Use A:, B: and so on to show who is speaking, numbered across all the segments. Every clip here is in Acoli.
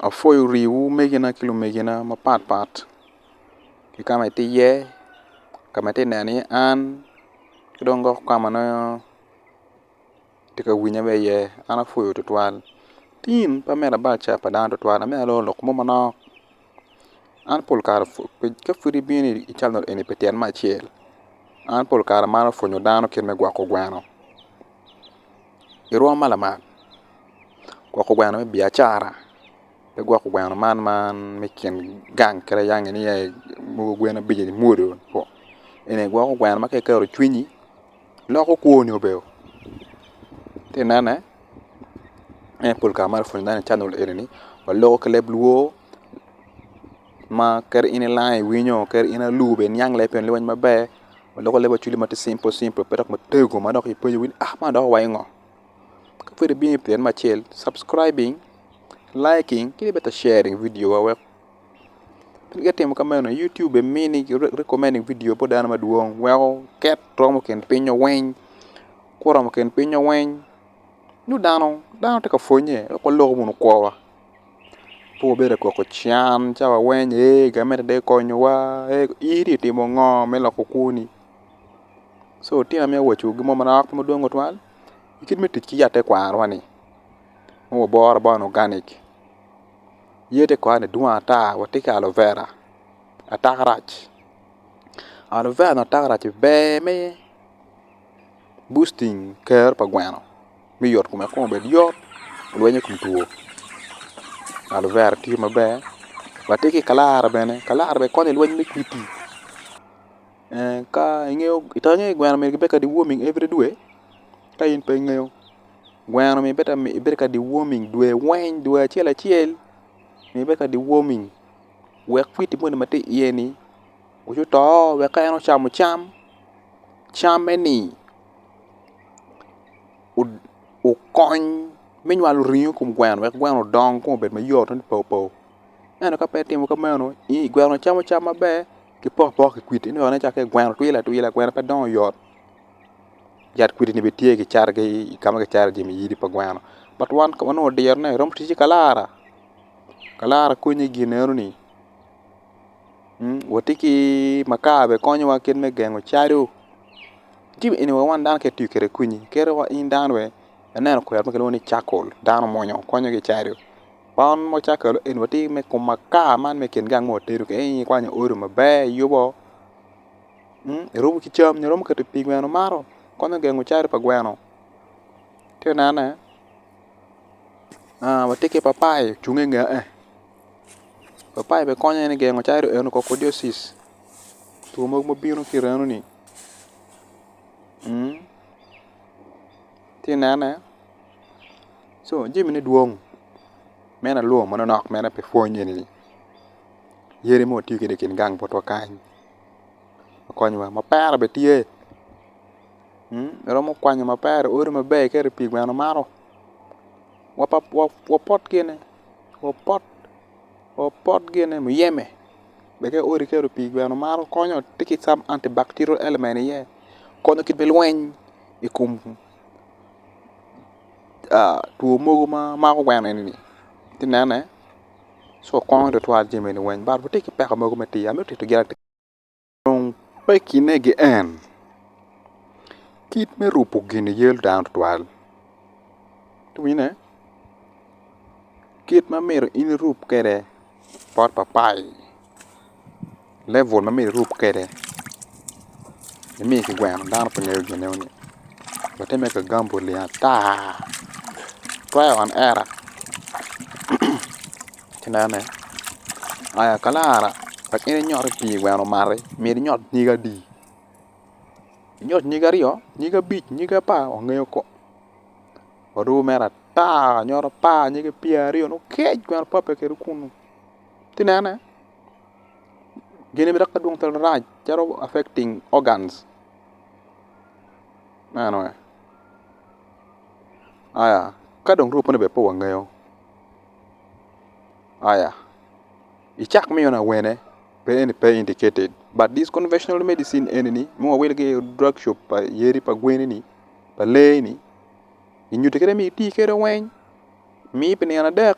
A: Apwoyo riwu megina ki lumegina mapat pat ki kama itye iye kama itye neno iye an ki dong lok kama nongo itye ka winya bene iye an apwoyo tutwal tim pa me labaca pa dano tutwal ento lok mo manok An pol kare ka pud ibino i canet eni pi tyen me acel an pol kare amaro pwonyo dano kit me gwoko gweno irwom ma lamal gwoko gweno me biacara pe gwoko gweno man ma me kin gang kadi yang ni mogo gwen abic onyo mwodoo eni aye gwoko gweno ma ka iketo cwinyi loko kwoni obeo ati nene me pol kare maromoni pud ineno canel eni ni waloko ki leb luo ma kadi in ilang iwinyo kadi in alubo bene niang leb pien leb weny maber waloko leb Acholi ma ti cimple cimple pe dok matego ma dok ipenyo wai ni ah man dok owaco ngo ka pud ibino pi tyene me acel subcribing liking ki bene ite sharing video wa wek Pingo itimo kameno? Youtube mini recommending video bot dano madwong weko ket romo kin pingngo weng. Ka oromo kin pingngo weng nongo dano tye ka pwonnye wek walok bene kwo wa pe wabed ka koko can ca wa weng ee gamente dong ekonyowa ee in dong itimo ngo me loko kwoni so tyen aye waco gin mo ma nok pe madwong tutwal kit me tic ki yat tekwaro wa ni ma waboro abora ni organic. Yee tekwaro-ni dwong ata watye ki alo vera atarac alo vera nyo atarac ber me busting ker pa gweno me yot kome kong obed yot olwiny i kom two alo vera tye maber watye ki kalara bene kalara bene konyo i lweny me kwidi ka ingeyo i tangi gweno myero kibed ka deworming every dwe ka in pe ingeyo. Gweno myero ibed ka deworming dwe weng dwe acel acel myero ibed ka deworming wek kwidi moni ma tye i iye ni obi oto wek ka en ocamo cam camme ni okony me nywalo ringo i kom gweno wek gweno odong kong obed mayot wek obed paupau ento ka pe itimo ka meno gweno camo cam maber ki pok pok ki kwidi ineno calo gweno twilo atwila gweno pe dongo yot. yat kwidi ni bene tye ki cato ki ka ma kicato jami yidi pa gweno but wan ka wanongo diro ne romo ticce kalara, kalara konyo i gin eno ni wati ki makar bene konyowa kit me gengo calo jami eni wa wan dano ka itiyo kwede kwini kadi wa in dano bene ineno kwena ma kilwongo ni cakol dano mwonyo konyo ki calo bon ma cakol eni wati me kom makar man me kin gang ma watedo ka in ikwanyo odo maber iyubo. erumo ki cam nyo eromo keto i pii gweno mato konyo gengo calo pa gweno ci inene watye ki papayi ocung inge papayi bene konyo en igengo calo eni cocodiosis two mogo ma bino ki remo ni ci inene co jami ne dwong meno alum manonok meno pe pwony eni yadi ma watiyo kwede ikin gang botwa kany. okonyowa mapera bene tye romo kwanyo mapera i odi maber ka rii pii gweno maro wapot gine wapot wapot gine muyeme bene ka odi ka rii pii gweno maro konyo tye ki some anti bacterial element iye konyo kit me lweny i kom two mogo ma mako gweno eni-ni iti nene ci wukwongo twatwal jaminu weng but wutye ki peko mogo me tiyo amito titogi latir dong pe kinegi en kit me rubo gin yelo dano twatwal iwinyo kit ma myero in irub kwede bot papayi. level ma myero irub kwede ma myero kigweno dano pe ngeyo gin meno wate me ka gambol-li ata trial and error ci inene aya ka lara wek in inyot i pii gweno omati myero inyot nyige adi inyot nyige aryo nyige abic nyige apar wangeyo ko warubo mere ata nyot apar nyige pyeraryo nokec gweno pape kede kunu. ci inene gene bene dok pe dwong marac calo affecting organs meno aye aya ka dong two meno bene pe wangeyo aya i cak ma eno awene pe eni pe indicated but this conventional medicine eni ni ma wawilo ki i drug shop pa yadi pa gweni ni pa lee ni kinyuti kede ni iti kede weng Mi pi nino adek,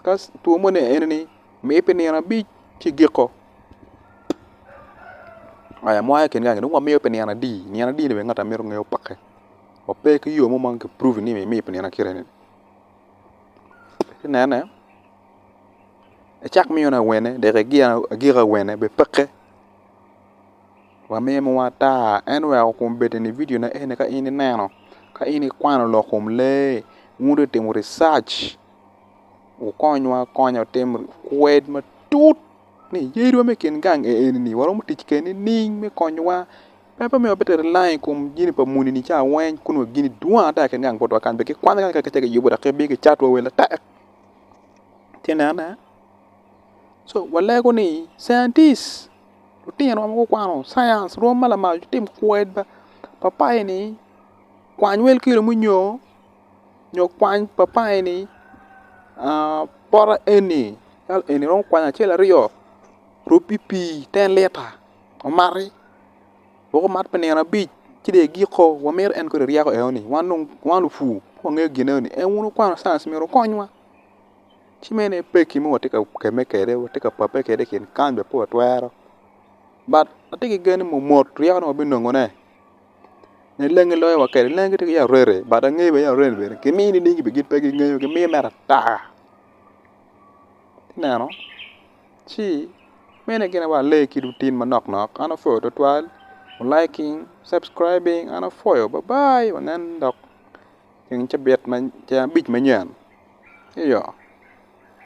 A: ka two moni aye enini, mi pi nino abic ci igiko. Aya mwaya i kin gangi dong wamiyo pi nino adi, nino adi ni bene ngat myero onge opake. Wape ki yo mo ma ki prove ni mimiyo pi nino akita enini. Ci inene, icak miyone awene dek igik awene bepeke. Wamimo wa ata en oweko kom bedi ni video ne eni ka in ineno ka in ikwano lok kom lee wun dong itimo research wukonywa akonya wutim kwed matut ni yadi wa me kin gang eni ni waromo tic kwede nining me konyowa pe pe miyo wabite rely i kom jami pa muni ni ca weng kun wa gini dwong ata i kin gang botwa kany be kikwanyo kanya kacel ki yubo dok kibino kicato wa wel atek ci inene so walego ni scientist Lutino ma gukwano cience rwom ma lamal gitim kwed papayi ni kwany wel kilo munyo nyo kwany papayi ni poto eni calo eni romo kwany acel aryo rub ki pii ten lita omati wek omat pi nino abic ci dong igiko wa miti en kong iryeko eno ni wan dong wan lupur pe wangeyo gin eno ni en wun wukwano cience myero wukonywa. ci mene peki mogo watye ka kemme kwede watye ka pape kwede i kin kany bene pe watwero but atye ki gen ni mot ryeko ni wabinongo ne nyo lengi loyo wa kwede lengi tye ki yat rene but angeyo bene yat rene bene kimiyo nining gin bene pe gingeyo gimiyo mere ata ineno ci mene gin aye wale ki lutin manok nok an apwoyo tutwal liking, subscribing an apwoyo babai wanen dok teng cabit ma tyen abic manyen.